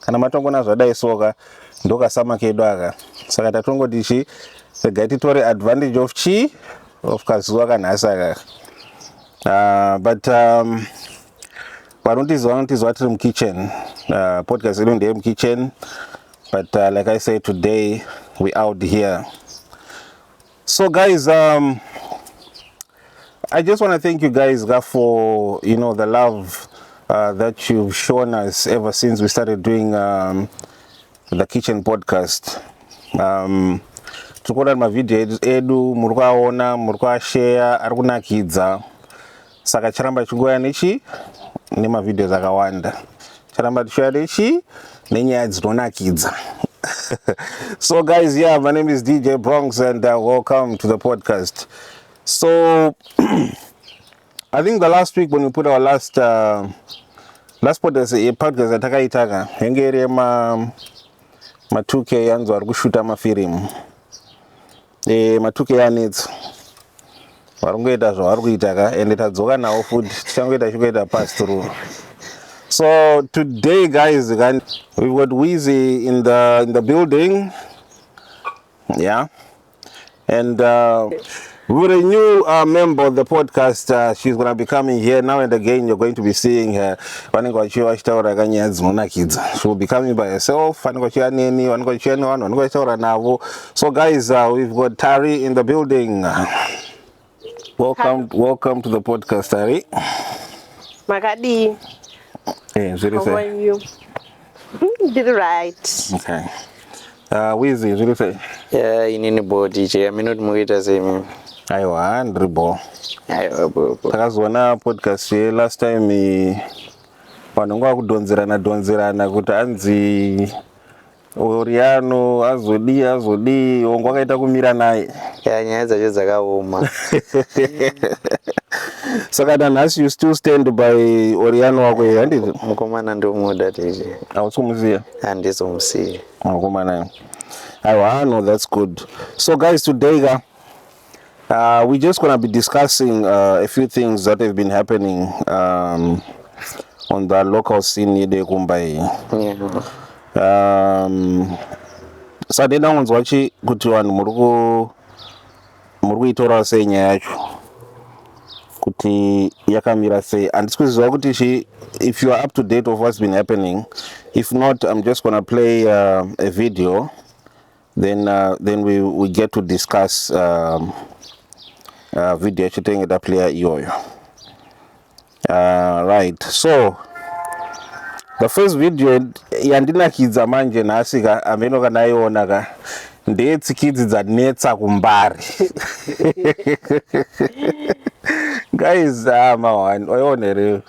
kana matongona zvadai soka ndokasama kedu aka saka tatongoti chi regai titore advantage of chi of kazuva kanhasi aka uh, but um, vanotiziva vanotiziva tiri mukitchen uh, podcast yedu ndeye mukitchen but uh, like i say today we out here So guys, um, I just want to thank you guys for, you know, the love uh, that you've shown us ever since we started doing um, the kitchen podcast. Um, tikuona mavideo edu muri kuaona muri kuashare ari kunakidza saka charamba chingouya nechi nemavideos akawanda charamba tichiuya nechi nenyaya dzinonakidza so guys yeah my name is dj bronx and uh, welcome to the podcast so i think the last week when we put our last uh, last podcast eh, podcast yatakaitaka yange iri yema ma2k yanzi vari kushuta mafirimu Eh, matuke anetso vari kungoita zvavari kuita ka ende tadzoka nawo futi tichangoita chikuita pass through so today guys kan we've got weezy in the, in the building yeah and uh, with a new uh, member of the podcast uh, she's gonna be coming here now and again you're going to be seeing her vanenge vachiva vachitaura kanyaya dzinonakidza she will be coming by herself vanenge vachiva neni vanenge vachiva nevanhu vanenge vachitaura navo So guys, uh, we've got Tari in the building. Welcome, welcome to the podcast, Tari. Makadi. Hey, zviri How are sei? you? Mm, Did right. Okay. Uh, Wizzy, zviri sei? Yeah, inini bo DJ aminoti mukuita sei mimi Aiwa, ndiri bho. aiwa bo bo Takazoona podcast ye last time i- vanhu ngavakudhonzerana dhonzerana kuti anzi Oriano azodii azodii hongu akaita kumira naye. Yeah, nyaya dzacho dzakaoma. Saka nanhasi you still stand by Oriano wako here handiti? Mukomana ndomuda tete. Hausi kumusiya? Handisi kumusiya. Mukomana. Aiwa, no that's good. So guys today ka Uh, we're just going to be discussing uh, a few things that have been happening um, on the local scene yedu yekumba iyi um, sade ndangonzwa chi kuti vanhu muri ku muri kuitora sei nyaya yacho kuti yakamira sei handisi kuziva kuti chi if you are up to date of what's been happening if not i'm just going to play uh, a video then uh, then we, we get to discuss um, uh, video yacho tenge taplayer iyoyo uh, right so the first video yandinakidza manje nhasi ka hameno kana aiona ka ndeyetsikidzi dzanetsa kumbari guys ama ah, one oiona here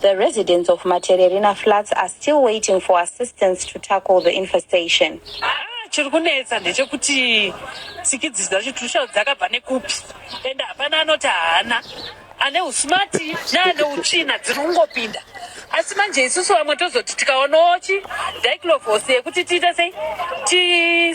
The residents of Matererina flats are still waiting for assistance to tackle the infestation. Ah, chiri kunetsa ndechekuti tsikidzi dzacho tirikushaura dzakabva nekupi and hapana anoti haana ane usmati neane utsvina dziri kungopinda asi manje isusu vamwe tozoti tikaonawo chi diclovosi yekuti tiite sei ti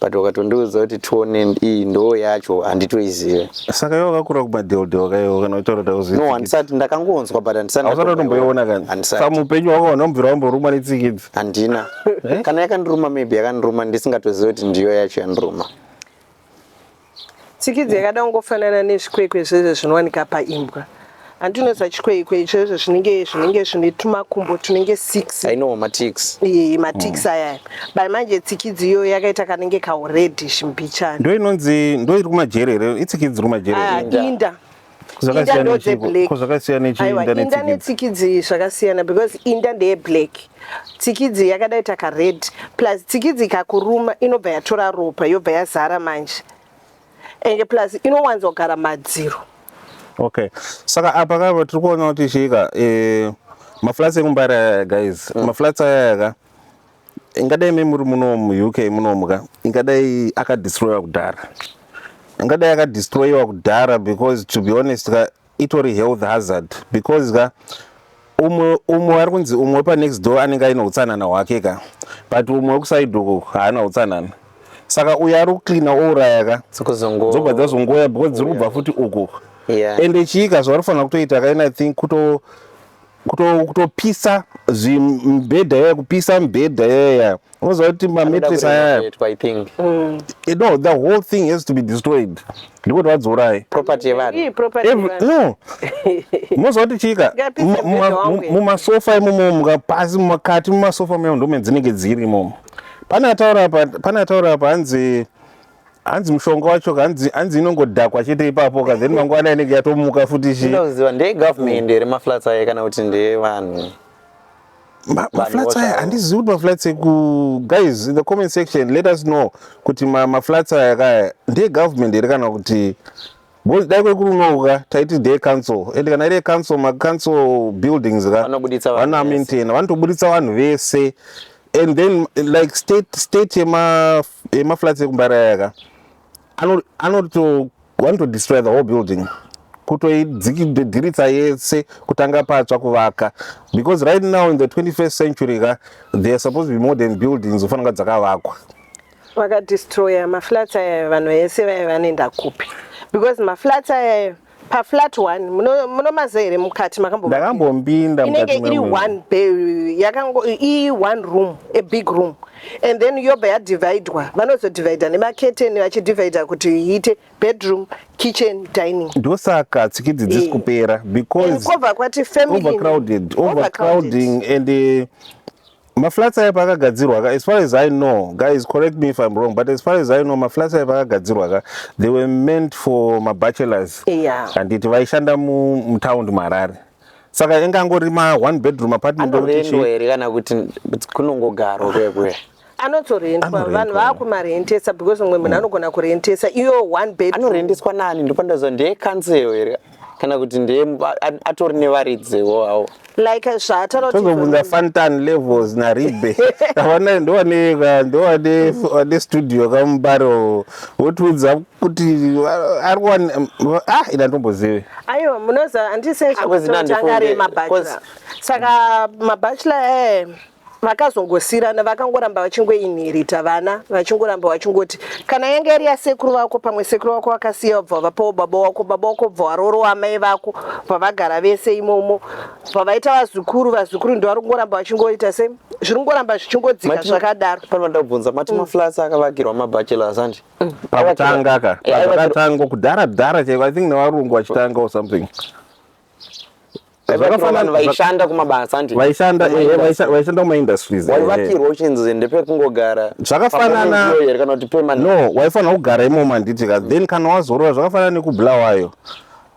but wakatondiudza kuti tonen iyi ndoo yacho handitoizive saka iwe wakakura kubadeldel kaiwo kana utaura no handisati ndakangonzwa but handisatiusatotomboiona kanisamupenyu wako vanhu vamubvira vamborumwa netsikidzi handina eh? kana yakandiruma maybe yakandiruma ndisingatozive kuti ndiyo yacho yandiruma Tsikidzi yakada kungofanana nezvikwekwe zvezvo zvinowanika paimbwa handi unoziva chikwekwe icho izvo zvinenge zvinenge zvine tumakumbo tunenge six ino matix iye matix mm. aya by manje tsikidzi iyo yakaita kanenge kauredish mbichana ndo inonzi ndo iri kumajere here itsikidzi iri kumajere ah, inda inda ndodzeblackindanetsikidzi zvakasiyana because inda ndeye black tsikidzi yakadai taka red plus tsikidzi ikakuruma inobva yatora ropa yobva yazara manje enge plus inowanzogara madziro okay saka apa kava tiri kuona kuti chiika eh, maflats ekumbaraya guys mm. maflats ayayaka ingadai me muri muno muuk munomuka ingadai akadestroyiwa kudhara ingadai akadestroyiwa kudhara because to be honest ka itori health hazard because ka umwe umwe wari kunzi umwe wepanext door anenge aine utsanana hwake ka but umwe wekuside uku haana utsanana saka uyo ari kucleana ouraya ka dzobva dzazongoya because dziri kubva futi uku ende chiika zvavari kufanira kutoita kaina think kuto kutopisa zvimibhedha yaya kupisa mibhedha yaya unoziva kuti mametres ayaya mm. eh, no the whole thing has to be destroyed ndikuti vadzorai no unoziva kuti chika mumasofa imomo mukapasi mumakati mumasofa mayo ndomedzinenge dziri imomo pane ataura apa hanzi hanzi mushonga wacho hanzi hanzi inongodhakwa chete ipapo ka then mangwana inenge yatomuka futi chi ndinoziva ndeye government here maflats aye kana kuti ndeye vanhu Ma- maflats aya voshawa. handizivi kuti maflats eku guys in the comment section let us know kuti ma- maflats aya kaya ndeegovernment here kana kuti Boys dai kwekurunoka taiti ndeye council and kana iri council ma council buildings ka vanobuditsa vanhu vana maintain vanotobuditsa vanhu vese and then like state state yema yema flats ekumbaraya ka ano anoto vanoto destroy the whole building kutoidzikidiritsa yese kutanga patsva kuvaka because right now in the 21st century ka there are supposed to be modern buildings ofanira kunga dzakavakwa vakadestroyer maflats ayayo vanhu vese vaive vanoenda kupi because maflats ayayo paflat one munomaza here mukati makamboinenge iri one ii one room a big room and then yobva yadividwa vanozodivida nemaketeni vachidivida kuti iite bedroom kitchen dining ndosaka tsikidzi dzisi eh. kupera becausecrowding and eh, Maflats aye paakagadzirwa ka as far as I know guys correct me if I'm wrong but as far as I know maflats aye paakagadzirwa ka they were meant for mabachelors yeah. handiti vaishanda mutown muharare saka inge angori ma one bedroom apartment anorendwa here kana kuti kunongogarwa kuye kuye anotorendwa vanhu vakumarentesa because mumwe munhu mm. anogona kurentesa iyo one bed anorendeswa nani ndopandaza ndeye council here kana kuti ndeye atori nevaridziwo awo like zvaatotozobvunza fantan levels naribe avana ndowane studio kamubaro wotiudza kuti ari kuwani ah ina ndombozive aiwa munoziva andisezvekutangaremabachela ah, saka mabachela ee eh. vakazongosirana vakangoramba vachingoinherita vana vachingoramba vachingoti kana yanga yari yasekuru vako pamwe sekuru vako vakasiya vabva vapawo baba wako baba wako bva warorowa amai vako pavagara vese imomo pavaita vazukuru vazukuru ndivari kungoramba vachingoita se zviri kungoramba zvichingodzika zvakadaro panoda kubvunza mati mm. maflats akavakirwa mabachelors andi mm. pakutanga ka pakatanga kudhara dhara chaiko i think nevarungu vachitanga or something zvakafanana vaishanda kumabasa andi vaishanda eh, vaishanda kuma industries waivakirwa eh. uchinzi ndepekungogara zvakafanana kana kuti pema no waifanira kugara imomo handiti ka then kana wazorora zvakafanana nekubulawayo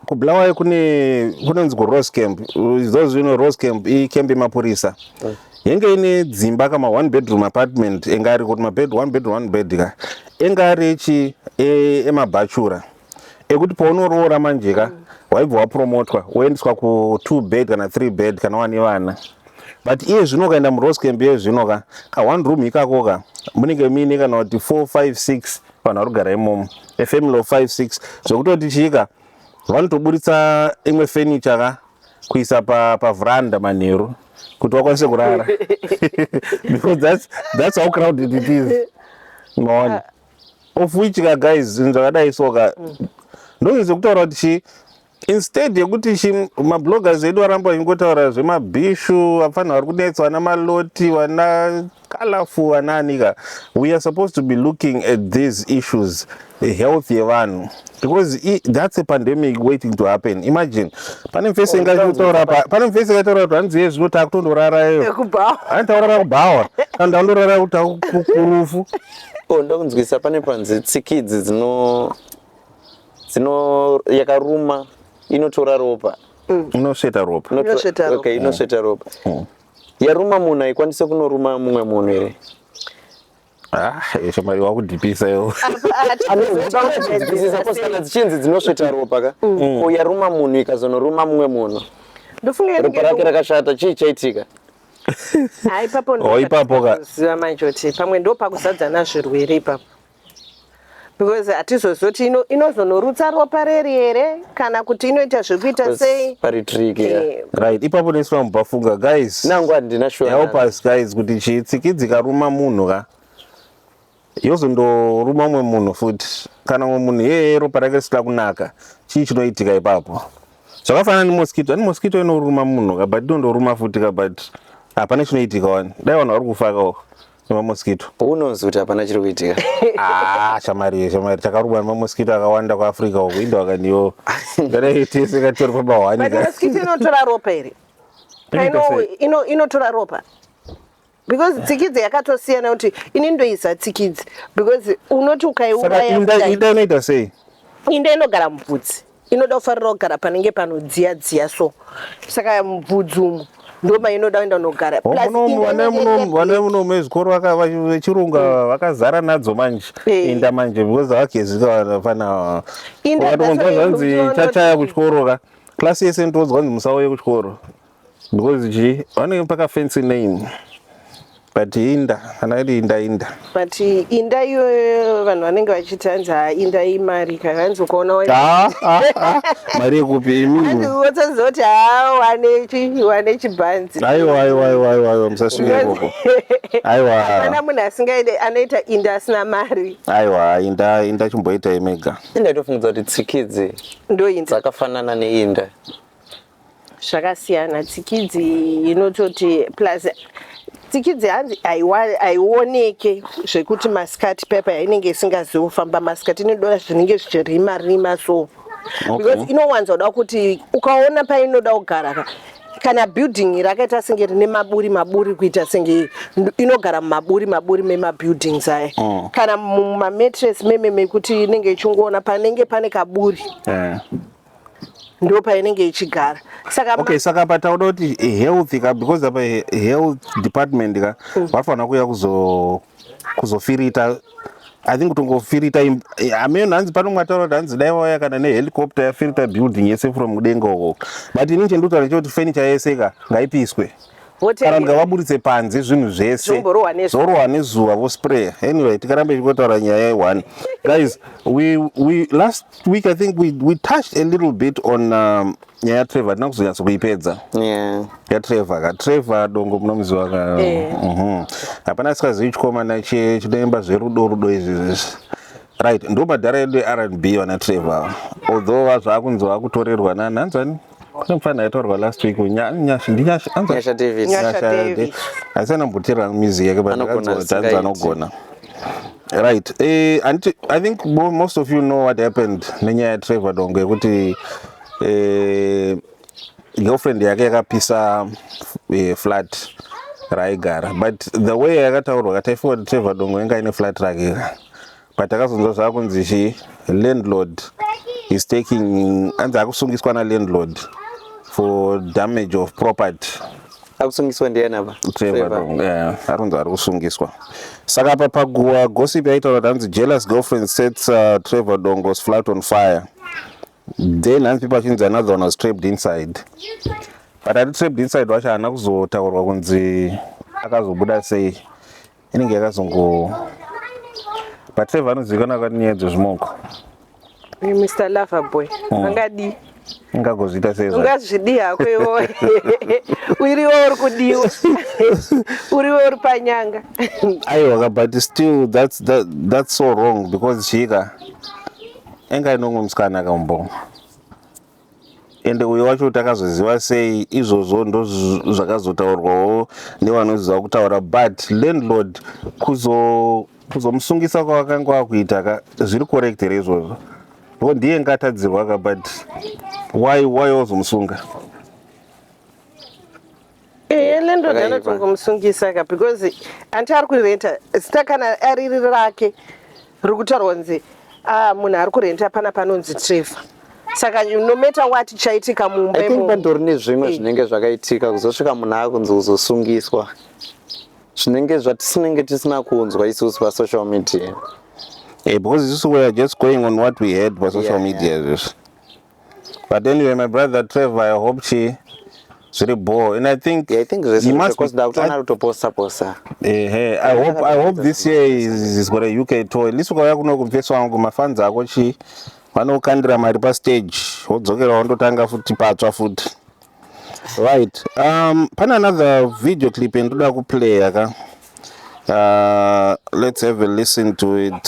kubulawayo kune kunonzi kurose camp izvozvo zvino rose camp icamp yemapurisa mm. yenge ine dzimba kama one bedroom apartment enga ari kuti mabed one bedroom one bed ka enga ari echi e, emabhachura e ekuti paunoroora manje ka waibva wapromotwa woendeswa ku two bed kana three bed kana wane vana but iye zvino ukaenda muroscamp iye zvino ka ka one room ikako ka munenge muine kana kuti four five six vanhu vari kugara imomo efamily of five six zvekutoti chiika vanotoburitsa imwe furniture ka kuisa pavhuranda pa manheru kuti vakwanise kurara because that's, that's how crowded it is maona of which ka guys zvinhu zvakadai so ka mm. ndozvinhu zvekutaura kuti chii instead yekuti chi mabloggers edu aramba achingotaura zvemabhishu apfanha vari kunetsa vana maloti vana kalafu vanaanika we are supposed to be looking at these issues health yevanhu because i, that's a pandemic waiting to happen imagine pane mfesi oh, ingataura pane mfesi ingataura kuti hanzi ye zvino taakutondorara iyo anitaurara kubhawa kana ndandorara kuti akukurufu Oh, ndokunzwisa pane panzi tsikidzi dzino dzino yakaruma inotora ropa mm. inosveta ropa inosveta ropa okay inosveta ropa mm. yaruma munhu haikwanise kunoruma mumwe munhu here ah, shomari wakudhipisa iwo kana dzichinzi dzinosveta ropa ka mm. ko yaruma munhu ikazonoruma mumwe munhu ropa rake rakashata chii chaitika ha ipapo oh, ndoziva manje kuti pamwe ndo pakuzadzana zvirwere ipapo because hatizozii kuti inozonorutsa ropa reri here kana kuti inoita zvekuita sei pari trick eh, right ipapo neswa mubafunga guys nangu handina shuwa help us guys kuti chitsikidzi karuma munhu ka yozondoruma umwe munhu futi kana umwe munhu yeye ropa rake risina kunaka chii chinoitika ipapo zvakafanana nemosquito ani mosquito inoruma munhu ka but inondoruma futi ka but hapana chinoitika wani dai vanhu vari kufakawo nemamosquito unonzi kuti hapana chiri kuitika ah, shamari shamari takarumwa nemamosquito akawanda kuafrica uku indo akandiyo kanaitese katori pamahwani inotora ropa here inotora ropa because tsikidzi yakatosiyana kuti ini ndoisa tsikidzi because unoti ukaiuraya inda inoita sei inda inogara mubvudzi inoda kufarira kugara panenge panodziya dziya so saka mubvudzi umu ndoma inoda kuenda unogara vana muno mezvikoro vechirungu mm. vakazara nadzo manje eh. inda manje because vakagezika vafana vanzwa zvanzi chachaya kuchikoro ka klasi yese ndotonzwa nzi musauye kuchikoro Because ji vanenge paka fancy name but inda kana iri inda inda but inda iyoyo vanhu vanenge vachiti hanzi haa inda imari ka hanzi ukaona ah, ah, ah. mari yekupi imi wotsazoti haa wane chi wane chibhanzi aiwa aiwa aiwa aiwa aiwa musasvike ikoko aiwa kana munhu asingaide anoita inda asina mari aiwa inda inda chimboita imega inda itofungidza kuti tsikidzi ndoinda dzakafanana neinda zvakasiyana tsikidzi inototi plus tsikidzi hanzi haioneke zvekuti masikati pepa yainenge isingazivi kufamba masikati inoda zvinenge zvichirima rima so because inowanza kuda kuti ukaona painoda kugara ka kana building rakaita senge rine maburi maburi kuita senge inogara mumaburi maburi memabuildings aya mm. kana mumametres meme mekuti inenge ichingoona panenge pane kaburi eh. ndopainenge ichigara saka okay saka patauda kuti health ka because apa health department ka mm. vafanira kuya kuzo kuzofirita i think kutongofirita hameno hanzi pano mwataura kuti hanzi dai vauya kana nehelicopter yafirita building yese from mudenga uko but ini chendotara chekuti furniture yese ka ngaipiswe kana ndikavaburitse panze zvinhu zvese zvorohwa nezuva vospray anyway tikaramba ichikotaura nyaya ye-one guys we, we last last week i think we, we touched a little bit on um, nyaya yatrevor hatina kuzonyatso kuipedza yeah. yatrevor ka trevor dongo munomuziva ka yeah. Eh. mm -hmm. hapana asikazivi chikomana chinoimba zverudo rudo izvi zvese right ndo madhara edu erb vana trevor although vazvaakunzi vakutorerwa nani hanzani kune mfana aitorwa last week Nya- nyashi ndinyashi anza- Nyasha Davis. Nyasha Nyasha Davis. Davis. asi anambutirira music yake but Anogona anzi zvisingaiti. anogona right eh, anditi i think mo- most of you know what happened nenyaya yatrevor dongo yekuti eh, girlfriend yake yakapisa eh, flat raaigara but the way yakataurwa ka taifunga kuti trevor dongo inga ine flat rake ka patakazonzwa zvakunzi zve landlord is taking anzi akusungiswa na landlord for damage of property akusungiswa ndiani apa akunzi ari kusungiswa saka apa paguwa gossip yaitaura kuti anzi jealous girlfriend sets uh, trevor dongos flat on fire then hanzi people achinzi another one was trapped inside but ati trapped inside wacho haana kuzotaurwa kunzi akazobuda sei inenge yakazongo but save anozivikanwa kwati nyaya dzezvimoko mr lover boy mm. angadii ungagozviita sei ungazvidii hako iwoe uriwo uri kudiwa uriwo uri panyanga aiwaka but still that's, that, that's so wrong because chika enga inomwe musikana akambo ende uyo wacho takazoziva sei izvozvo ndo zvakazotaurwawo nevanoziva kutaura but landlord kuzomusungisa kuzo kwavakanga vakuita ka zviri correct here izvozvo ko ndiye ngatadzirwa ka but why why wazomusunga ehe ne ndodana tongomusungisa ka because anti ari kurenta zita kana ariri rake riri kutaurwa kunzi ah, munhu ari kurenta pana panonzi trevor saka no matter what chaitika mumba i think pandori nezvimwe eh. zvinenge zvakaitika kuzosvika munhu akunzi kuzosungiswa zvinenge zvatisinenge tisina kunzwa isusu pasocial media hey, eh, because isusu weare just going on what we heard pasocial yeah, media yeah. But anyway, my brother Trevor, I hope she zviri bhoo and i think yeah, i think zvesekutoposta posta ehe i hope i hope this year is, is got a uk tour at least ukauya kuno kumfeso wangu mafans ako chi vanokandira mari pastage wodzokera wandotanga futi patsva futi right um pane another video clip yandoda kuplaya ka uh, let's have a listen to it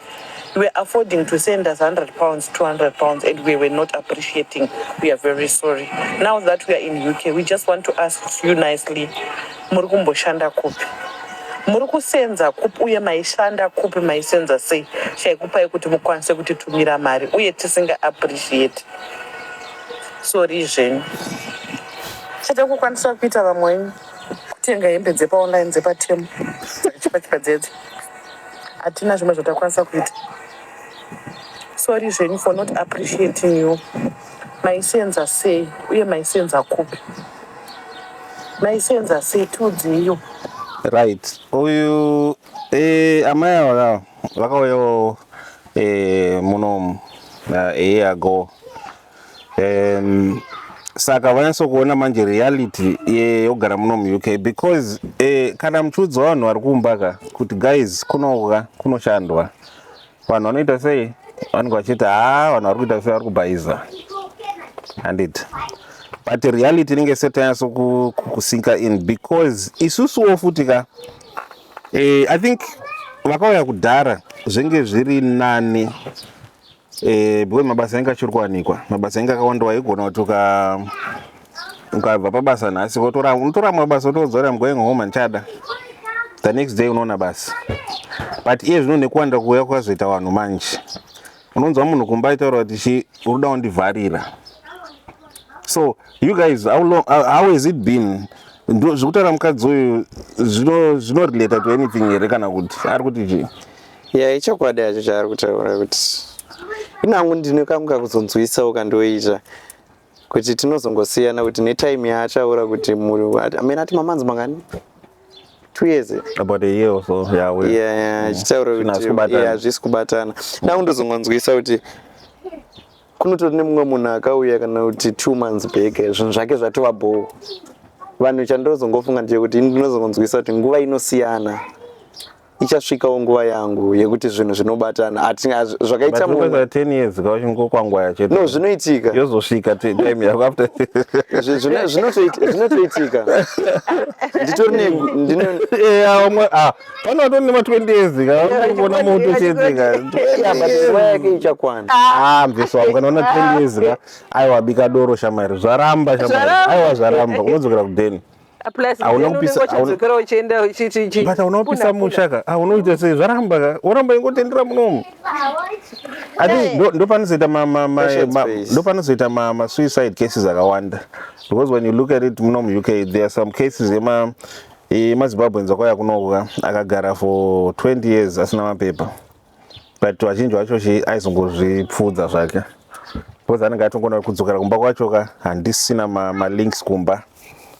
You were affording to send us 100 pounds, 200 pounds, and we were not appreciating. We are very sorry. Now that we are in UK, we just want to ask you nicely, muri kumboshanda kupi? Muri kusenza kupi uye maishanda kupi maisenza sei chaikupai kuti mukwanise kutitumira mari uye tisinga appreciate. Sorry zvenyu. Chete kukwanisa kuita vamwe kutenga hembe dzepa online dzepa temu. Chipa chipa dzedze. hatina zvimwe zvatakwanisa kuita sorry zvenyu for not appreciating you maisenza sei uye maisenza kupi maisenza sei tiudzeiyo right uyu eh, amai ava vakauyawo eh, munomu uh, eh, a year ago um, saka vanyaso kuona manje reality yogara ye, muno muuk because eh, kana muchiudzwa vanhu vari kumba ka kuti guys kunoka kunoshandwa vanhu vanoita sei vanenge vachiti haa vanhu vari kuita sei vari kubhaiza handiti but reality inenge setanyaso kusinka in because isusuwo futi ka eh, i think vakauya kudhara zvenge zviri nani Eh, because mabasa anga achiri kuwanikwa mabasa anga akawanda waigona kuti uka ukabva pabasa nhasi wotora unotora amwe mabasa wotodzora I'm going home handichada the next day unoona basa but iye zvino nekuwanda kuuya kwakazoita vanhu manje unonzwa munhu kumba aitaura kuti chi unoda wandivharira so you guys how, long, how, how has it been Ndo- zvekutaura mukadzi uyu zvino- zvinorelata to anything here kana kuti ari kuti chii ya ichokwadi yacho chaari kutaura kuti inangu ndine kangu kakuzonzwisawo kandoita kuti tinozongosiyana kuti netime yaataura kuti amene ati mamanzi mangani two years about a year or so yeah we yeah yeah chitaura kuti yeah hazvisi kubatana nangu ndozongonzwisa kuti kunotori nemumwe munhu akauya kana kuti two months back zvinhu zvake zvatova bhoo vanhu chandozongofunga ndechekuti ndinozongonzwisa kuti nguva inosiyana ichasvikawo nguva yangu yekuti zvinhu zvinobatana hatina zvakaita munhu But 10 years ka uchingokwangwaya chete no zvinoitika yozosvika ti- time yako after Zvi- zvino- zvinotoit- zvinotoitika nditori ne ndino- Eh, ah, wamwe- ah, pano watori nema 20 years ka unogona moto chete ka Yeah, but nguva yake ichakwana Ah, mveso wangu kana una 20 years ka aiwa bika doro shamwari zvaramba shamwari Zvaramba. aiwa zvaramba unodzokera kudeni unopisa musha ka aunoita sei zvaramba ka woramba ingotendera munomu ndopanozoita ndopanozoita masuicide cases akawanda because when you look at it muno muuk there are some cases ema emazimbabweans akauya kunoka akagara for 20 years asina mapepa but vazhinji vacho shi aizongozvipfuudza zvake because anenge atongona kudzokera kumba kwacho ka handisina malinks ma kumba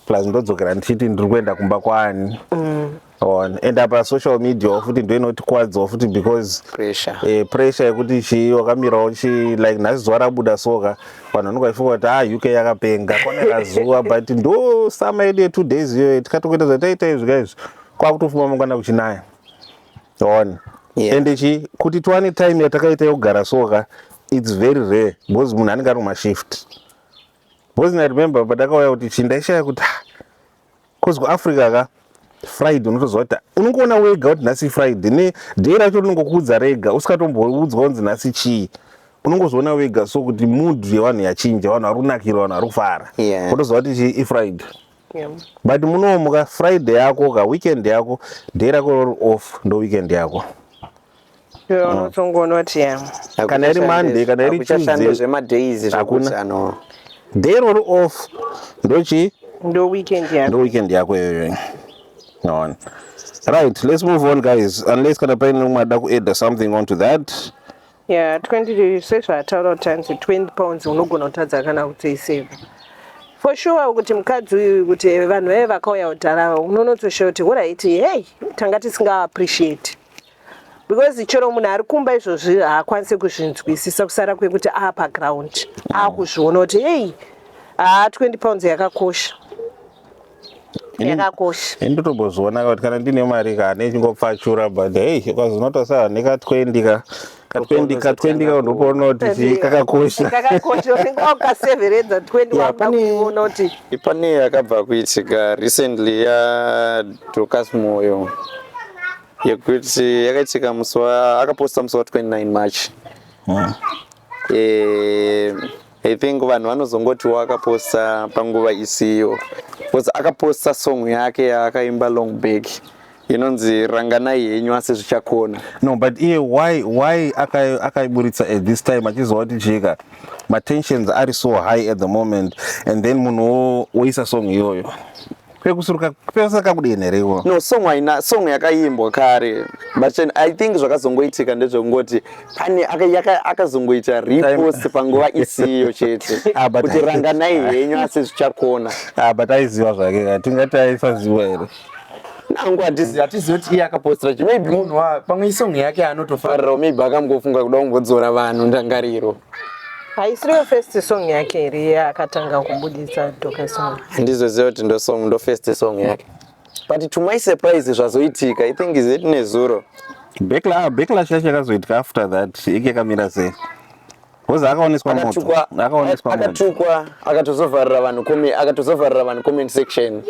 plus ndodzokera ndichiti ndiri kuenda kumba kwaani mm. on and apa social media futi ndo inotikwadzawo futi because pressure eh, pressure yekuti chii wakamirawo chi like nhasi zuva rabuda soka vanhu vanenge vachifunga kuti ah uk yakapenga kone razuva but ndo summer yedu yetwo days iyoyo tikatokuita zvataita izvi ka izvi kwakutofuma mangwana kuchinaya one yeah. and chi kuti tiwane time yatakaita yokugara soka its very rare because munhu anenge ari kumashift because i remember patakauya kuti chi ndaishaya kuti bcause ah, kuafrica ka friday unotoziva kuti unongoona wega kuti nhasi friday ne day racho rinongokuudza rega usikatomboudza kunzi nhasi chii unongozoona wega so kuti mood yevanhu yachinja vanhu vari kunakira vanhu vari kufara yeah. unotoziva kuti chi ifriday But munomuka Friday yako ka weekend yako day rako rori off ndo weekend yako. Unotongoona kuti ya. Kana iri Monday kana iri Tuesday zvema days zvakuti ano. Day rori off ndochi ndo weekend yako. Ndo weekend yako iyoyo. Naona. Right, let's move on guys. Unless kana paine mumwe ada kuadd something onto that. Yeah, 20 sezvaataura kuti anzi 20 pounds unogona kutadza kana kutoiseva for sure kuti mukadzi uyu kuti vanhu vaive vakauya kudhara ava unonotosha kuti huraiti hei tanga tisingaappreciate because chero munhu ari kumba izvozvi haakwanise kuzvinzwisisa kusara kwekuti aa paground akuzviona kuti hei haa 20 pounds yakakosha yakakosha ini ndotombozoona kuti kana ndine mari ka nechingopfachura but hei ukazonota sa nekatwendika katwendika twendika unopoona kuti chii kakakosha kakakosha unenge wakaseveredza 20 Yeah, wabva pane- kuona kuti pane yakabva kuitika recently ya Dorcas Moyo yekuti yakaitika musi wa akaposta musi wa 29 March eh I think vanhu vanozongoti wakaposta panguva isiyo because akaposta song yake yaakaimba long back inonzi ranganai henyu asi zvichakona no but iye why why akaiburitsa aka at this time achiziva kuti chika matensions ari so high at the moment and then munhu woisa song iyoyo kwekusuruka pese kakudini here iwo no song aina song yakaimbwa kare but i think zvakazongoitika ndezvekungoti pane akazongoita repost panguva isiyo chete ah, kuti ranganai henyu asi zvichakona ah, but aiziva zvake tingati aisaziva here nangu hatizivi hatizivi kuti iye akapostira chi maybe munhu pamwe isong yake anotofarirawo maybe akambofunga kuda kungodzora vanhu ndangariro haisiriyo first song yake here yaakatanga kubudisa doka song handizoziva kuti ndo song ndo first song yake but to my surprise zvazoitika i think is it nezuro ah, backlash yacho yakazoitika after that ike kamira sei bcause akaoneswa motoakaoneswaakatukwa akatozovharira vanhu kome akatozovharira vanhu comment section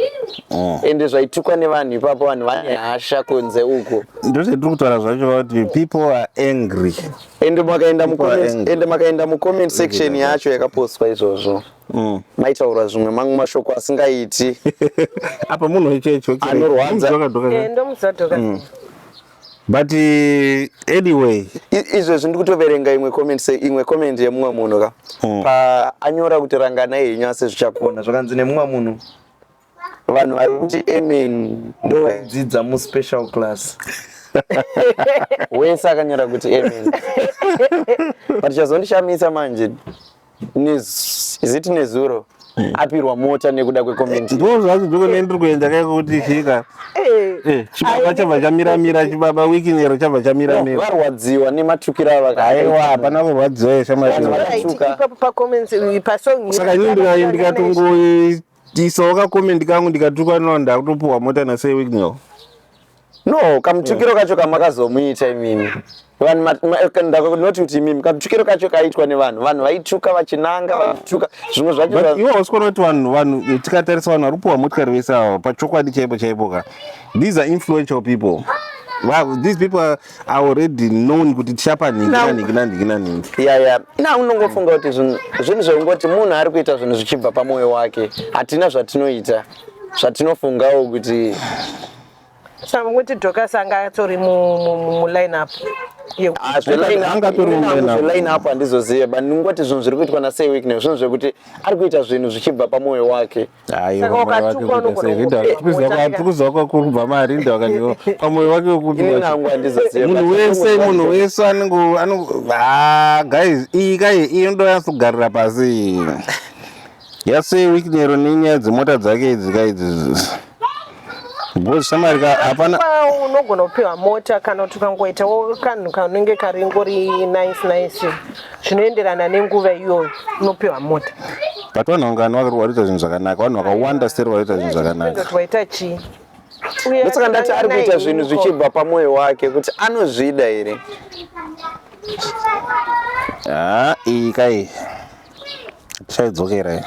oh. ende zvaitukwa nevanhu ipapo vanhu vane hasha kunze uko ndozvetiri kutaura zvacho vakuti people are angry ende makaenda mucomment ende makaenda mucomment section yacho yakapostwa izvozvo mm. maitaura zvimwe mamwe mashoko asingaiti apa munhu ichecho anorwadza eh, ndomuzadhoka mm. but eh, anyway izvezvi ndi kutoverenga imwe comment se imwe comment yemumwe munhu ka mm. paanyora kuti ranganai henyu asi zvichakona zvakanzi nemumwe munhu vanhu vari kuti amen ndovayidzidza mu special class wese akanyora kuti amen but chazondishamisa manje ziti nezuro hmm. apirwa mota nekuda kwecomment ndoo zvacho ndiko nei ndiri kuenda kai kuti chika eh. eh, chibaba chabva chamiramira chibaba wiki nero chabva chamiramira varwadziwa nematukiro avakaiwa hapana kurwadziwa yeshamaipacomments pasaka ini ndikatongoita Tisawo ka comment kangu ndikatukwa no ndakutopuwa mota na Sir Wicknell. No, kamutukiro yeah. kacho kamakazomuita imimi. Vanhu ndakunoti kuti imimi kamutukiro kacho kaitwa nevanhu. Vanhu vaituka vachinanga vaituka zvimwe zvacho. But iwo usikona kuti vanhu vanhu tikatarisa vanhu vari kupuwa motikari vese ava pachokwadi chaipo chaipo ka. These are influential people. Wow, these people are, I already known kuti tichapa nhingi Now- nanhingi nanhingi nanhingi ya ya na unongofunga kuti zvinhu zvinhu zvekungoti munhu ari kuita zvinhu zvichibva pamwoyo wake hatina zvatinoita zvatinofungawo kuti saka kuti docas anga atori mu- mu- mu- muline up yeku- Ah, zveline up- Angatori imi nangu muline up. zveline up handizozive but ndingoti zvinhu zviri kuitwa nasei weekney zvinhu zvekuti ari kuita zvinhu zvichibva pamwoyo wake Saka wakatukwa unogona kukuziva kwakurubva marinda wakandiwa pamoyo wake wekundimunhu wese munhu wese anenge ah, guys iyi kai iyi inoda yansogarira pasi yase week nero nenyaya dzemota dzake idzi ka idzi gozishamari ka hapana unogona kupiwa mota kana kuti ukangoitawo kanhu kanenge karingori nice nice zvinoenderana nenguva iyoyo unopiwa mota but vanhu vangani vakarikuita zvinhu zvakanaka vanhu vakawanda seri vaita zvinhu zvakanaka vaita chii ndosaka ndati ari kuita zvinhu zvichibva pamwoyo wake kuti anozvida here haa ah, iyi kai tichaidzokera iyi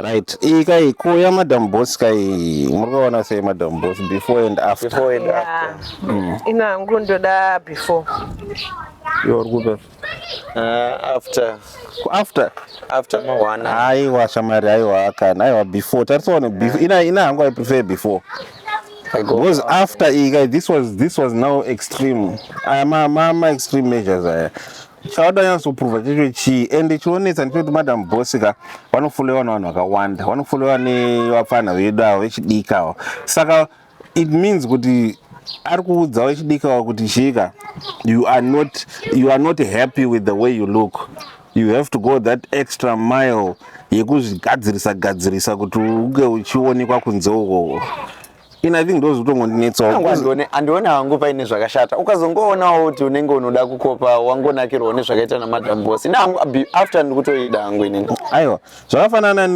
right iyi kai kuuya madam boss kai muri kuona sei madam boss before and after before and after mm. ina hangu ndoda before iwe uri kupe uh, after after after mawana haiwa shamari haiwa akana haiwa before tarisaone before ina ina hangu i prefer before because after ika this was this was now extreme aya ah, ma ma ma extreme measures aya chawada nyatsoprova checho chii and chionetsa ndichoti madam boss ka vanofolewa nevanhu vakawanda vanofolewa nevapfanha vedu avo vechidika avo saka it means kuti ari kuudza wechidika wa kuti chika you are not you are not happy with the way you look you have to go that extra mile yekuzvigadzirisa gadzirisa kuti unge uchionekwa kunze ukoko ini i think ndozvitongondinetsawo andione hangu paine zvakashata ukazongoonawo kuti unenge unoda kukopa wangonakirwawo nezvakaita namadam boss ini hangu after ndikutoida hangu inini aiwa zvakafanana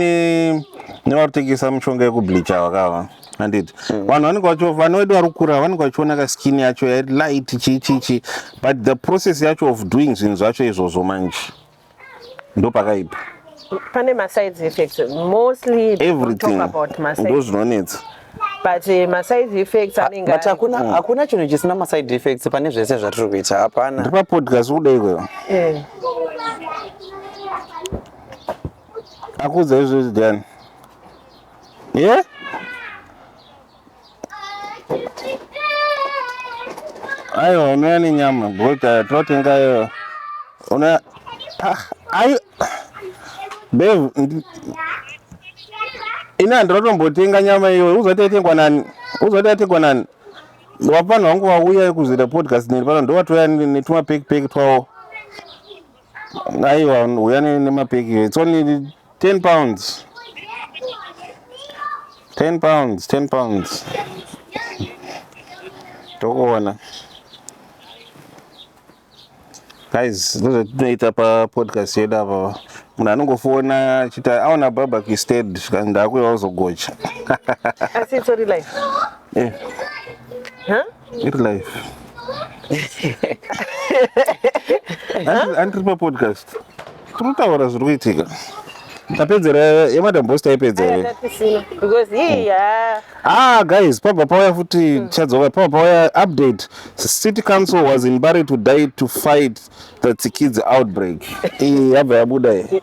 nevarikutengesa mushonga yekubleacha wakava handiti mm. vanhu vanenge vacho vana vedu vari kukura vanenge vachiona ka skin yacho yalight chii chii chii but the process yacho of doing zvinhu zvacho izvozvo manje ndopakaipa pane masides effects mostly everything about masides ndozvinonetsa but uh, maside effects anenge but hakuna mm. hakuna chinhu chisina maside effects pane zvese zvatiri kuita hapana ndipa podcast kuda ikweyo eh. akuudza izvozvi diani ye yeah? Aiwa unouya nenyama bota totenga iyo una ah, ayo bev ini handinotombotenga nyama iyo uzati yatengwa nani uzati yatengwa nani wapanhu wangu vauya kuzoita podcast neni pano ndowatouya netuma pekipeki twavo aiwa huya nemapeki it's only 10 pounds 10 pounds 10 pounds tokuona guys ndozvatinoita papodcast yedu apava munhu anongofona achiti aona babac sted zvikanzi ndaakuya ozogocha asi itsori life eh. huh? Iri live. Andiri papodcast. Tiri kutaura zviri kuitika. Tapedzera yemadam boss taipedza here? Because hii ya. Ah guys, pabva pauya futi hmm. chadzoka pabva pauya update. City Council was in Bari to die to fight the Tsikidzi outbreak. Iyi yabva yabuda iyi.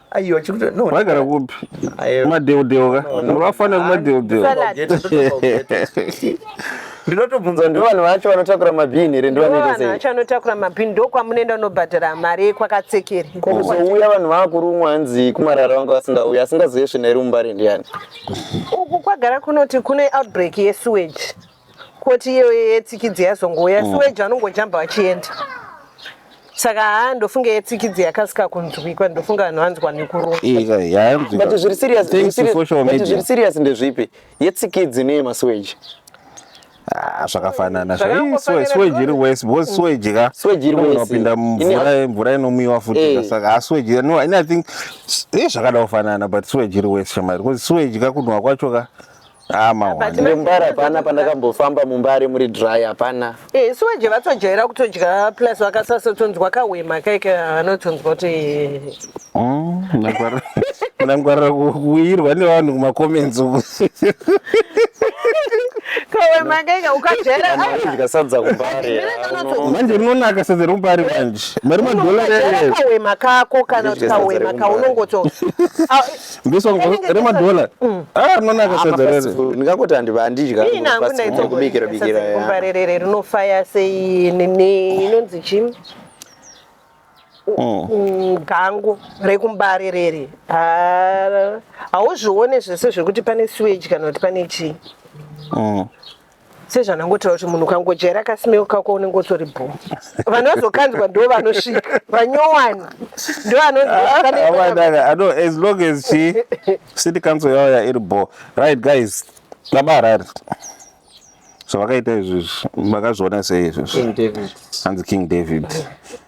Aiwa chikuti no. Wagara kupi? Madeo deo ka. Murafana no, madeo deo. Ndinotobvunza ndo vanhu vacho vanotakura mabhini here ndo vanoita sei? Vanhu vacho vanotakura mabhini ndo kwamunoenda unobhadhara mari yekwakatsekera. Kuzouya vanhu vakurumwa hanzi kumarara vanga vasingauya asingazive svina iri mumbare ndiyani? Uku kwagara kunoti kune outbreak yesewage. koti iyoyo yetsikidzi yazongouya mm. siweji anongojamba vachienda saka haa ndofunga yetsikidzi yakasika kunzwikwa ndofunga vanhu vanzwa nekuroaut zviri serious ndezvipi yetsikidzi neyemasiweji Ah, zvakafanana sweji iri wese because sweji ka unopinda mvura inomwiwa futi eh. saka asweji ah, no i think zvakada kufanana but sweji iri wese shamari because sweji ka kunhuwa kwacho ka Ah, mahwani. Mumbare hapana pandakambofamba mumbare muri dry hapana. Eh, so je vatojaira kutodya plus vakasasotonzwa kahwema kaike vanotonzwa kuti Mm, munangwarira- munangwarira ku- kuirwa nevanhu kumacomments uku. kahwema kaike ukajaira Vanhu vanodya sadza kumbare. manje rinonaka sadza remumbare manje mari madhora ukajaira rerere kahwema kako kana kuti Kudya sadza kahwema remumbare. kaunongoto Ah, This one rema dollar. Mm. Ah, no naka sedzerere. Ndingakoti andiba andidya. Ina ngunda ito kubikira bikira. Kumbarerere rinofaya sei nini inonzi chim. Mm. Mm, gangu rekumbarerere ah, hauzvione zvese zvekuti pane sewage kana kuti pane chii sezvandangotaura kuti munhu ukangojaira kasimeo kako unenge utori bho vanhu vazokanzwa ndo vanosvika vanyowani ndo vanozias long as chi city council yauya iri bho right guys baba harari zvavakaita izvizvi makazviona sei izvizvi hanzi king david mm -hmm.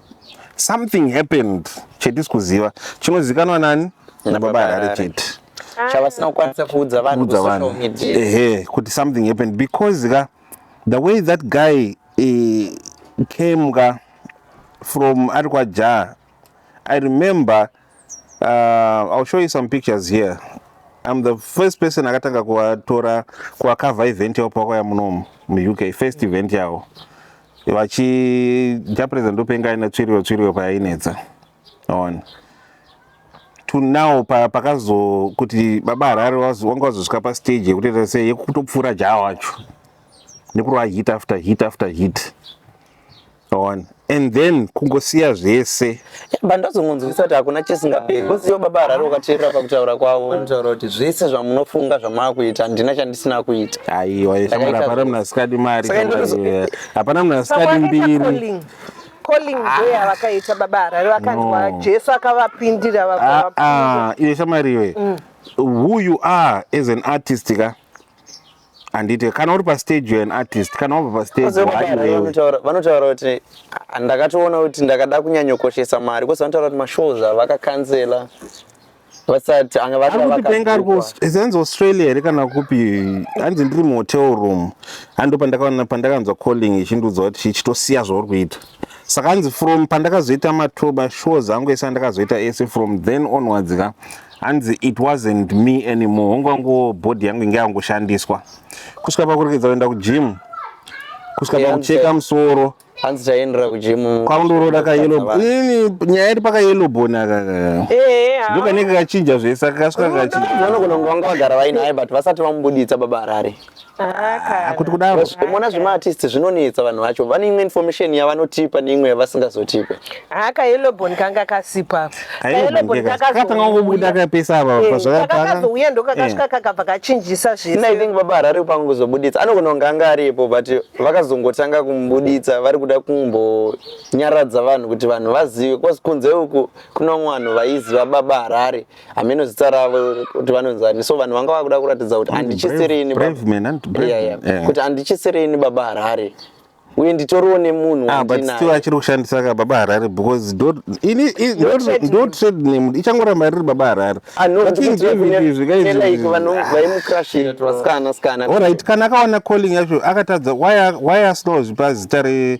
something happened chetisi kuziva chinozikanwa nani nababa harare chete chavasina kukwanisa kuudza vanhu kusocial media ehe kuti something happened because ka the way that guy uh, came ka from ari kwaja i remember Uh, I'll show you some pictures here. I'm the first person akatanga kuvatora kuvacover event yavo pavakauya munomu muUK, first event yavo vachija president ndopenga ine tsviriro tsviriro payainetsa on to now pakazo kuti baba harare wanga wazosvika pastage yekutoita sei yekutopfuura jaa wacho nekurova hit after hit after hit One. and then kungosiya zvese but ndozongonzwisa kuti hakuna chisingaperi because iyo baba harare ukateerera pakutaura kwavo vanotaura kuti zvese zvamunofunga zvamaakuita handina chandisina kuita aiwa shamwari hapana munhu asikadi mari hapana munhu asikadi mbiri calling day ah. avakaita baba harare vakanzwa jesu akavapindira ah, ah, iwe shamwari iwe mm. who you are as an artist ka handite kana uri pastage you're an artist kana wabva pastage Asi vanodaro, hayi wewe vanotaura- vanotaura kuti "Ah, ndakatoona kuti ndakada kunyanyokoshesa mari kozi vanotaura kuti mashows ava vakakanzela vasati anga vati ari kuti penga ari ku vakabhukwa. is hanzi australia here kana kupi hanzi ndiri muhotel room hando pandakaona pandakanzwa calling ichindiudza kuti chitosiya zvauri kuita saka hanzi from pandakazoita matoba shows angu ese andakazoita ese from then onwards ka hanzi it wasn't me anymore hongu wangu body yangu inge yangoshandiswa kusvika pakurekeza kuenda kugym kusvika Yeah, pakucheka hanzi- musoro hanzi taendera kujimu kwakundoroda kayelo ini nyaya iri pakayelo bone aka Eh, ah. ndokanenge kachinja zvese kakasvika kachinja vanogona kunge vanga vagara vainaye but vasati vamubuditsa baba harare Ah, kuti kudaro mona zvemaartist zvinonetsa vanhu vacho vane imwe information yavanotipa neimwe yavasingazotipe haka yelobon kanga kasipa kakazouya eh, ndokakasvika eh. kakabva kachinjisa zveseithink baba harari kupanga kuzobuditsa anogona kunge anga aripo but vakazongotanga kumubuditsa vari kuda kumbonyaradza vanhu kuti vanhu vazive bcause kunze uku kuno vanhu vaiziva baba harari hameno zita ravo kuti vanonzani so vanhu vanga vakuda kuratidza kuti handichisiriini kuti handichisiriini baba harare uye nditoriwo nemunhu ah, butstill achiri kushandisa ka baba harare because ndo trade name ichangoramba riri baba harare ah, vaimukrashiravasikana sikana olright kana akawana calling yacho akatadza why asinawo zvipa zita re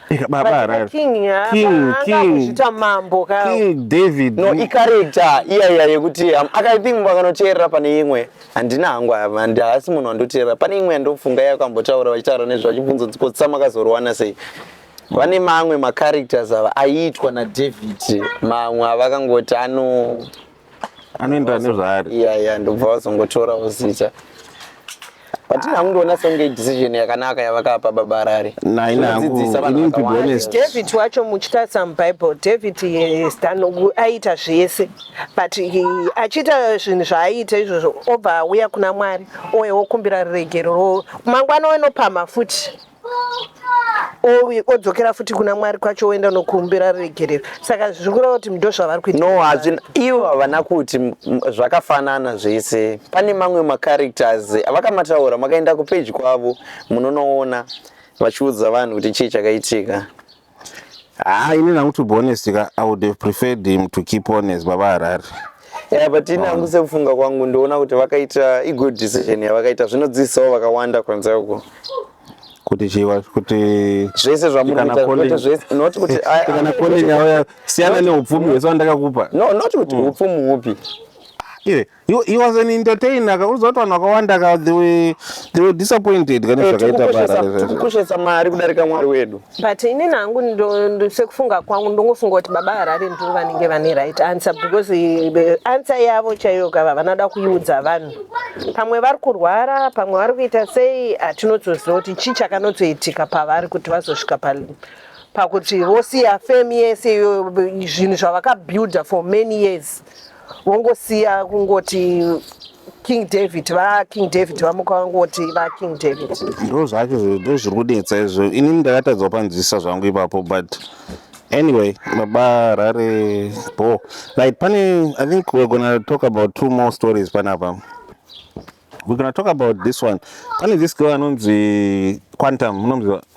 Ika baba Vachita harare. king, ha, King, va- king. vakuzvita mambo ka King David. no icharacter iyaiya yekuti um, aka i think vakanoteerera pane imwe handina hangu ava, handi- haasi munhu andoteerera pane imwe yandofunga yakambotaura vachitaura nezve vachibvunza kuti kotsa makazorwana sei vane mamwe macharacters ava aiitwa nadavid mamwe avakangoti ano anoenda nezvaari iya iya ndobva vazongotorawo zita but ini hakundiona songe decision yakanaka yavakapa baba harare Nai, nai, Kudzidzisa vanhu ini to be vakawanda. honest. david wacho muchitarisa mubible david eh, stanogu aiita zvese but eh, achiita zvinhu zvaaiita izvozvo obva auya kuna mwari oye okumbira ruregerero mangwana onopamha futi odzokera futi kuna mwari kwacho oenda nokuumbira ruregerero saka zviri kureva kuti ndo zvavari kuita no hazvina ivo havana kuti zvakafanana zvese pane mamwe macharacters avakamataura makaenda kupeji kwavo munonoona vachiudza vanhu kuti chii chakaitika Haa ini nangu to be honest ka I would have preferred him to keep on as baba Harare. Yeah, but ini hangu sekufunga kwangu ndoona kuti vakaita i good decision yavakaita zvinodzidzisawo vakawanda kwanza uko kuti chiwa kuti zvese zvamuri Kana kuita calling- kuti zvese not kuti I- I- kana kone nyaya siyana neupfumi hwese wandakakupa no not kuti upfumi hupi iwe You, he was an entertainer ka unoziva kuti vanhu vakawanda ka they were, they were disappointed kane Eh, zvakaita tikukoshesa- parare tikukoshesa mari kudarika mwari wedu but ini nangu ndo- ndo- sekufunga kwangu ndongofunga kuti baba harare ndivo vanenge vane right answer because eh, the answer yavo chaiyo kava vanoda kuiudza vanhu pamwe vari kurwara pamwe vari kuita sei hatinotoziva kuti chii chakanotoitika pavari kuti vazosvika pa pakuti vosiya fame yese iyo zvinhu zvavakabuilda for many years wongosiya kungoti king david vaking david vamuka vangoti vaking david ndo zvacho ndo zviri kunetsa izvo inini ndakatadza kupanzwisisa zvangu ipapo but anyway baba rare bo like pane i think we're gonna talk about two more stories panapa we're gonna talk about this one pane this girl anonzi quantum unomziva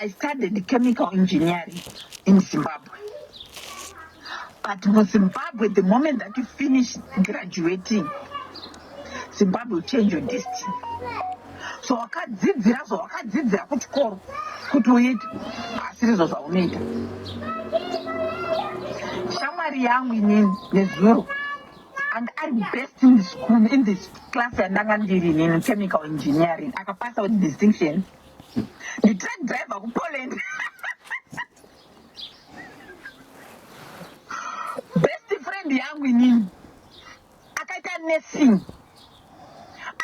I studied chemical engineering in Zimbabwe. But in Zimbabwe, the moment that you finish graduating, Zimbabwe will change your destiny. So wakadzidzira so wakadzidzira kuchikoro kuti uite asirizvo zvaunoita. Shamwari yangu inini nezuro anga ari best in school in this class yandanga ndiri nini chemical engineering akapasa with distinction nditruck driver kupoland best friend yangu inini akaita nursing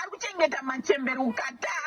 ari kuchengeta machembere ukataa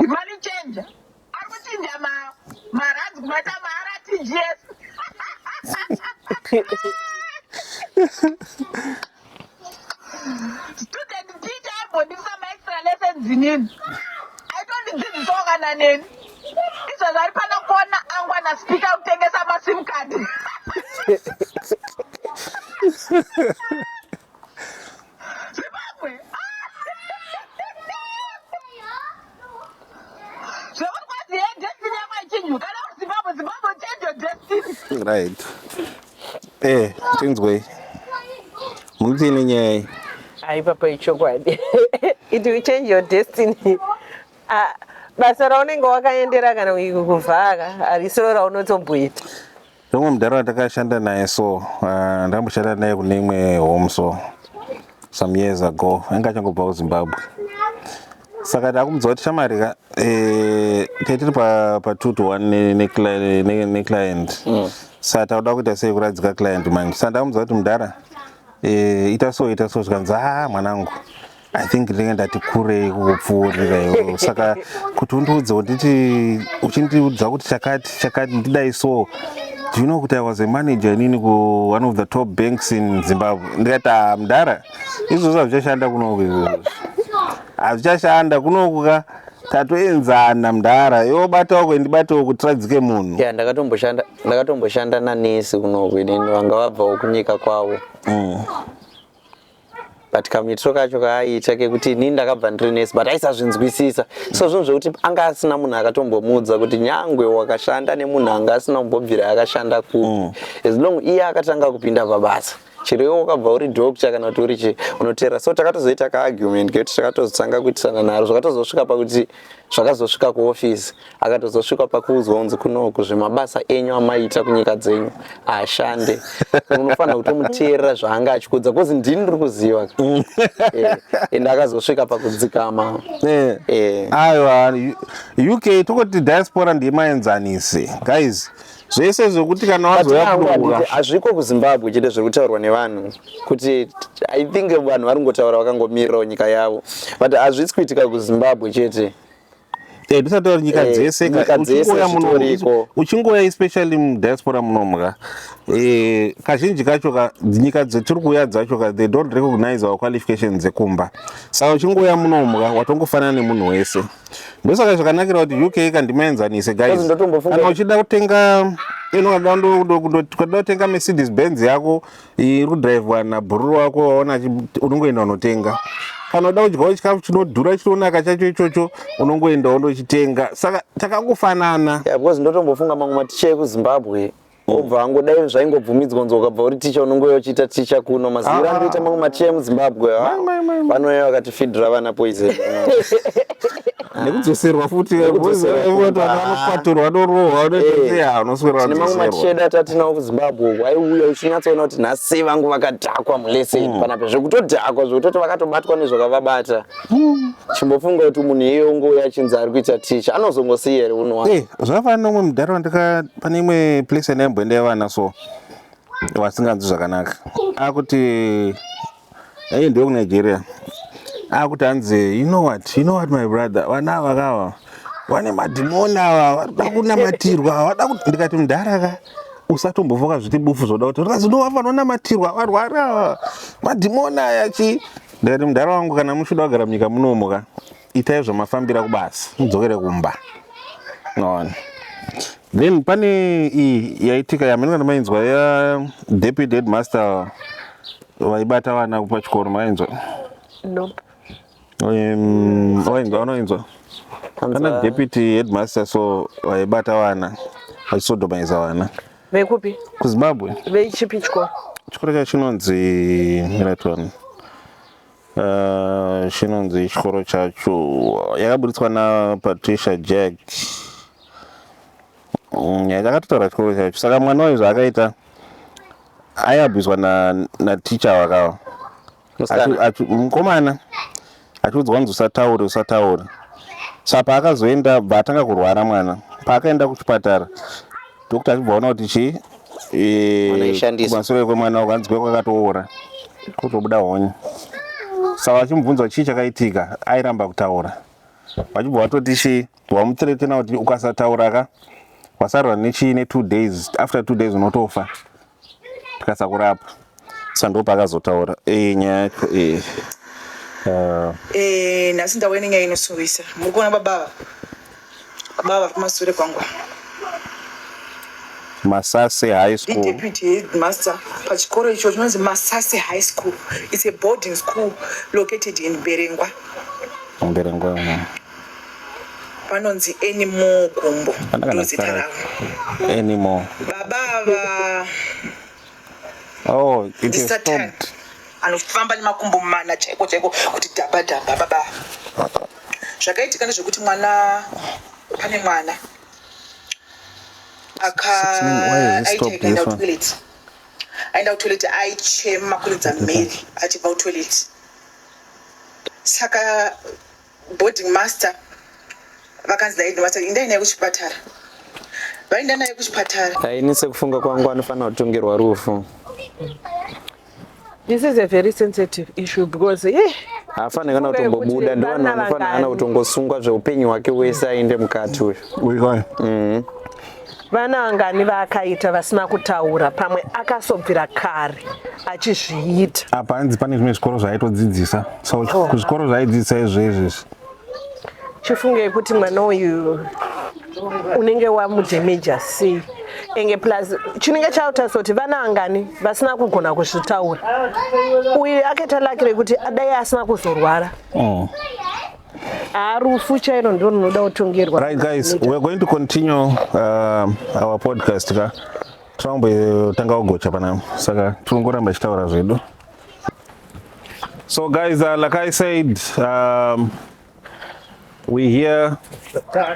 Money changer. Ari kuchinja ma marands kumaita ma RTGS. Student teacher aimbondipisa ma extra lessons inini. Aitondidzidzisawo kana neni. Izvozvo ari pano kuona angu ana speaker kutengesa ma sim card. right eh tinzwei munoti ine nyaya iyi hayi papa ichokwadi it will change your destiny ah, basa raunenge wakaendera kana kuvhara harisiro raunotomboita Rimwe mudhara watakashanda naye so uh, ndakamboshanda naye kune imwe home so some years ago anga achangobva kuzimbabwe saka ndakumudza kuti shamari ka eh, tetiri pa, pa two to one neclient ne, ne, ne, ne mm. sa tauda kuita sei kuradzika client manje sa ndakumudza kuti mudhara eh, ita so ita so zvikanzi a ah, mwanangu i think ndinenge ndati kurei kukupfuurira iwe saka kuti undiudze unditi uchindiudza kuti chakati chakati ndidai so do you know kuti i was a manager inini ku one of the top banks in zimbabwe ndikati ah, mdara izvozvo hazvichashanda kunoku izvozvo hazvichashanda kunoku ka tatoenzana mdara yobata wako ndibate wako tiradzike munhu ya ndakatomboshanda ndakatomboshanda nanesi kunoku inini vanga vabvawo kunyika kwavo mm. but kamuitiro kacho kaaiita kekuti inini ndakabva ndiri nurse but aisazvinzwisisa so zvinhu zvekuti anga asina munhu akatombomuudza kuti nyangwe wakashanda nemunhu anga asina kumbobvira akashanda kupi mm. as long iye akatanga kupinda pabasa chero iwe wakabva uri doctor kana kuti uri chii unoteera so takatozoita kaargument kekuti takatozotanga kuitisana naro zvakatozosvika pakuti zvakazosvika kuofisi akatozosvika pakuudzwa kunzi kunoku zvemabasa enyu amaita kunyika dzenyu ashande unofanira kutomuteerera zvaanga achikuudza bcause ndini ndiri kuziva mm. eh, and akazosvika pakudzikama eh. eh. aiwa uk tokoti diaspora ndiye maenzanisi guys zvese zvekuti kana wazouya kudoura hazviko kuzimbabwe chete zviri kutaurwa nevanhu kuti i think vanhu vari kungotaura vakangomirirawo nyika yavo but hazvisi kuitika kuzimbabwe chete eh, tisataura nyika eh, dzese uchingoya especially mudiaspora munomka eh, kazhinji kacho ka nyika dzetiri kuuya dzacho ka they don't recognize our qualifications dzekumba saka uchingoya munomka watongofanana nemunhu wese ndosaka zvakanakira kuti uk ka ndimaenzanise guys kana uchida kutenga ukada kutenga mercedes benz yako iri kudrivhwa nabhururu wako waona unongoenda unotenga kana uda kudyawo chikafu chinodhura chinonaka chacho ichocho unongoenda undochitenga saka takangofanana because ndotombofunga mamwe maticha ekuzimbabwe obva angodai zvaingobvumidzwa nzwa ukabva uri ticha unongouya uchiita ticha kuno maziviro ah. andoita mamwe maticha emuzimbabwe vanouya vakatifidhira vana poison nekudzoserwa futi anokwaturwa anorohwa unotozianoswerane mamwe macheda atatinawo kuzimbabwe uku aiuya uchinyatsoona kuti nhasi vangu vakadhakwa mulese hmm. pana zvekutodhakwa zvekutoti vakatobatwa nezvakavabata hmm. chimbofunga kuti munhu iye ungouya achinzi ari kuita ticha anozongosiya here unowa eh, zvakafanana nomwe mudhara wandika pane imwe place yandaimbonda yevana so vasinganzwi zvakanaka akuti ayi ndiwe kunigeria akuti hanzi you know what you know what my brother vana ava kava vane madhimoni ava vanoda kunamatirwa vanoda kuti ndikati mudhara ka usatombofoka zviti bufu zvoda kuti rikazi no vafanonamatirwa varwari ava madhimoni aya chii ndikati mudhara wangu kana muchida kugara munyika munomuka itai zvamafambira kubasa mudzokere kumba noona then pane iyi yaitika yaminoka ndamainzwa ya deputy headmaster vaibata vana kupa chikoro mainzwa no wainzwa unoinzwa kana deputy headmaster so vaibata vana vachisodomaisa vana vekupi kuzimbabwe vechipi chikoro chikoro chacho chinonzi miratoni Uh, chinonzi chikoro chacho yakaburitswa napatricia jack mm, yakatotaura chikoro chacho saka mwana wayo zvaakaita ayabviswa naticha wakawa mukomana achiudzwa kunzi usataure usataure sa paakazoenda bva atanga kurwara mwana paakaenda kuchipatara Doctor achibva aona kuti chii eh, kumasure kwemwana wako hanzi kweko akatoora kutobuda honye saka vachimubvunza chii chakaitika airamba kutaura vachibva vatoti chii wamutretena kuti ukasatauraka wasarwa nechii ne two days after two days unotofa tikasakurapa sa ndo paakazotaura e, nyaya yacho e. uh. e, nhasi ndauya nenyaya inosuwisa muri kuona babava babava vari kumasure kwangu masase high school deputy headmaster pachikoro icho chinonzi masase high school its a boarding school located in berengwa berengwa vanonzi anymore gumbo ndozita ravo anymore baba ava oh it is stopped anofamba nemakumbo mana chaiko chaiko kuti dhamba dhamba baba zvakaitika nezvekuti mwana pane mwana akaaiaenda kutoilet aenda kutoilet aichema kuridza mary achibva kutoilet saka boarding master vakanzi dai headmaster indai naye kuchipatara vaenda naye kuchipatara ini sekufunga kwangu anofanira kutongerwa rufu this is a very sensitive issue because ye yeah. haafanira kana kutombobuda ndivanhu vanofanira kana kutongosungwa zveupenyu hwake wese aende mukati uyu uyu mm. Vana vangani vaakaita vasina kutaura pamwe akasobvira kare achizviita. Apa hanzi pane zvimwe zvikoro zvaitodzidzisa. So oh. kuzvikoro zvaidzidzisa izvo izvezvi. Chifunge kuti mwana uyu unenge wamudemeja sei enge plus chinenge chautaisa kuti vana vangani vasina kugona kuzvitaura uyu akaita laki rekuti adai asina kuzorwara oh. Ah, rufu chairo ndo runoda kutongerwa right guys we're going to continue uh, our podcast ka tinombotanga kugocha panapa saka tirongoramba ichitaura zvedu so guys uh, like i said um, we here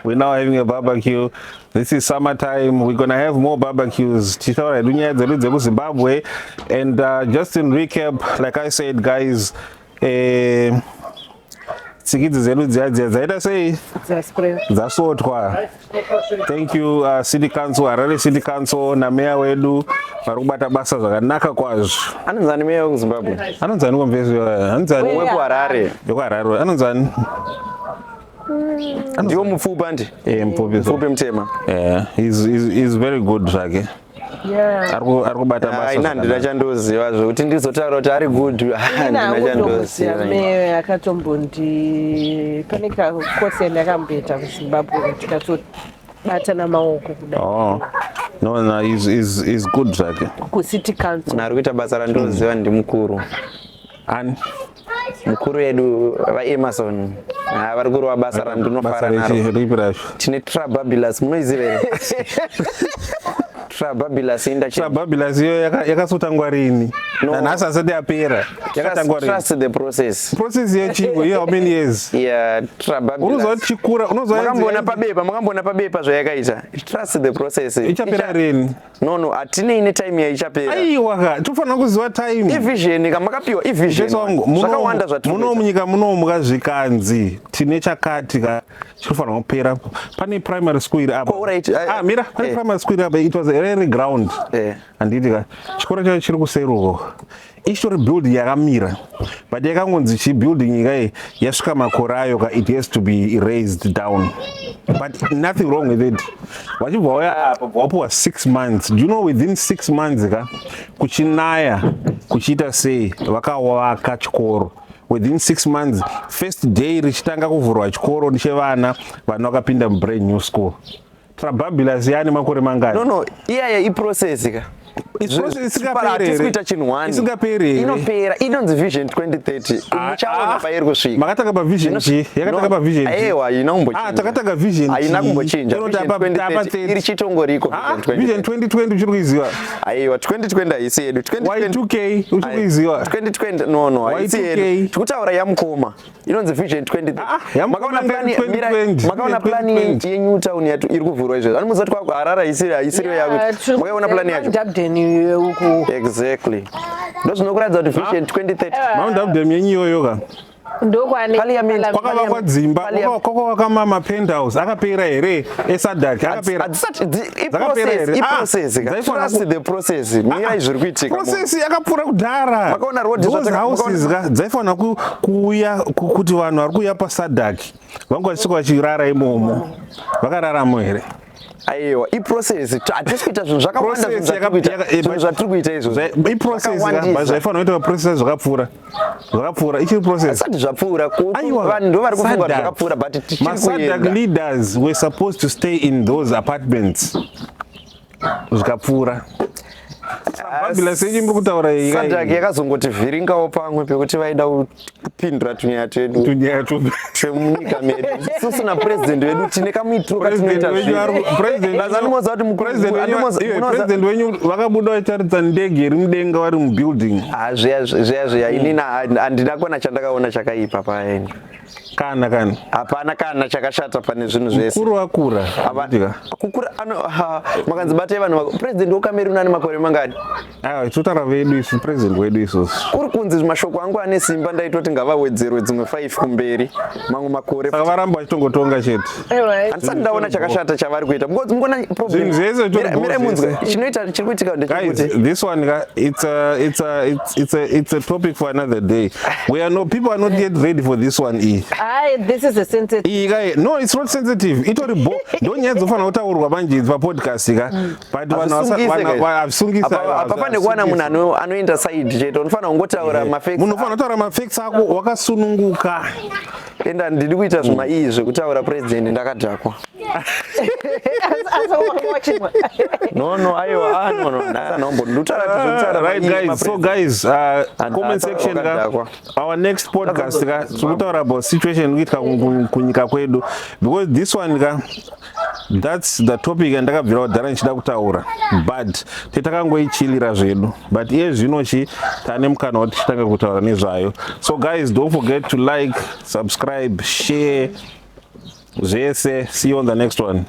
we now having a barbecue this is summer time we're gonna have more barbecues tichitaura hedu nyaya dzedu dzekuzimbabwe and uh, just in recap like i said guys eh, tsikidzi dzedu dziya dziya dzaita sei dzasotwa thank you uh, city council harare city council nameya wedu vari kubata basa zvakanaka kwazvo anonzani meya wekuzimbabwe anonzani komvesi anonzani wekuharare wekuharare anonzani ndiwo mupfupi andi eh, mupfupi mutema eh, is very good zvake okay. ari kubata basa ina ndina chandoziva zvekuti ndizotaura kuti ari good ndina chandoziva me akatombondi pane kakosi yandakamboita kuzimbabwe tikatobatana maoko kudai oh. no no is is is good zvake kucity council ari kuita basa randoziva ndimukuru ani mukuru yedu vaemarson ah, vari kurova basa randinofara naro tine trababilus munoiziva here trababilus indatrababilus iyo yakasotangwa rini nanhasi asati yapera yakatangwa trust the process process yechiko iyo how many years yeah trababilus unozoa chikura unozoa makamboona pabepa makamboona pabepa zvayakaita trust the process ichapera rini No no, atinei ne time yaichapera. Aiwa ka, tofanira kuziva time. Ivision ka makapiwa ivision. Zvakawanda zvatiri. Muno munyika muno mukazvikanzi tine chakati ka chinofanira kupera. Pane primary school iri apa. All right. Eh, ah, mira, pane eh. primary school iri apa. It was a rare ground. Eh. Anditi ka. Chikora chacho chiri kuseruko. Istory building yakamira but yakangonzi chi building kai yasvika makore ayo ka it has to be raised down but nothing wrong with it vachibva waya apa bvawapiwa six months do you know within six months ka kuchinaya kuchiita sei vakawaka chikoro within six months first day richitanga kuvhurwa chikoro chevana vana vakapinda mubrand new school Trababila ziyani makore mangani? No no, iyaya i process ka. Isingapera chinhu wani. Isingapera. Inopera. Inonzi vision 2030. Ah, Muchaona ah. pairi kusvika. Makatanga pa vision chi? Yakatanga pa vision. Aiwa, ina kumbochinja. Ah, takatanga vision. Haina kumbochinja. Inoti apa 2030 iri chitongoriko ah, vision 2020. Vision 2020 uchiri kuiziva. Aiwa, 2020 haisi yedu. 2020 Y2K uchiri kuiziva. 2020 no no, haisi yedu. Tikutaura yamukoma. inonzi vision 20 ah, ah, makaona plani makaona plani ye new town yatu iri kuvhurwa izvo ani muzati kwa harara isiri isiri ya kuti makaona plani yacho dabden uko exactly ndozvino kuratidza kuti vision 2030 mount dabden yenyu yoyo ka ndokwakavakwa dzimba kwakavakwa mapenthouse akapera here esadak akapera dzakapera here ah, trust the process ah, mirai zviri kuitika process yakapfuura kudhara makaona road those houses ka dzaifanira kuuya kuti vanhu vari kuuya pasadak vanga vachisvika vachirara imomo vakararamo here aiwa iprocess hatisi kuita zvinhu zvakawanda zvinhu zvatiri kuita izvozvakawandisa zvaifanira kuita process zvakapfuura zvakapfuura ichiri process asati zvapfuura vanhu ndo vari kufunga kuti zvakapfuura but tichirikuenda leaders were supposed to stay in those apartments zvikapfuura yakazongotivhiringawo pamwe pekuti vaida kupindura tunyaya twedu chemunyika medu isusu napresident wedu tine kamuitiro katinoitapresident wenyu vakabuda vachitaridza ndege iri mudenga vari mubuilding ah, zviya zviya zviya hmm. inini handina kona chandakaona chakaipa paeni kana kana hapana kana chakashata pane zvinhu zvese mukuru akura kukura makanzi batai vanhu president wekameruni ane makore mangani Aiwa, totara vedu isu president wedu isusu. Kuri kunzi mashoko angu ane simba ndaitoti ngavawedzerwe dzimwe 5 kumberi mamwe makore. Saka varamba vachitongotonga chete. Handisati ndaona chakashata chavari kuita because mukona problem. Zvese zvese mira munzwe chinoita chiri kuitika ndechekuti. Guys, this one ka it's a it's a it's, it's a it's a topic for another day. We are no people are not yet ready for this one e. Aye, this is a sensitive. Iyi kai no it's not sensitive. Itori bo. Ndonyadzofanira kutaurwa manje pa podcast ka. Mm. pane kuwana munhu anoenda saidi chete unofanira kungotaura eh, mafemunofanira kutaura mafex ako wakasununguka enda ndiri kuita zvima iyi zvekutaura president ndakadhakwa no no aiwa ah, no no nanombo ndutara tuzutara right guys so guys uh, comment section ka our next podcast ka tikutaura about situation kuitika kunyika kwedu because this one ka That's the topic yandakabvira kudhara ndichida kutaura but tetakangoichilira zvedu but iye zvino chi tane mukana wati titange kutaura nezvayo so guys don't forget to like subscribe share zvese see you on the next one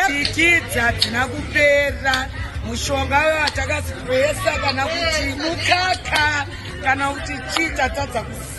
tikidza dzina kupera mushonga watakazipesa kana kuti mukaka kana kuti chii tatadza kusi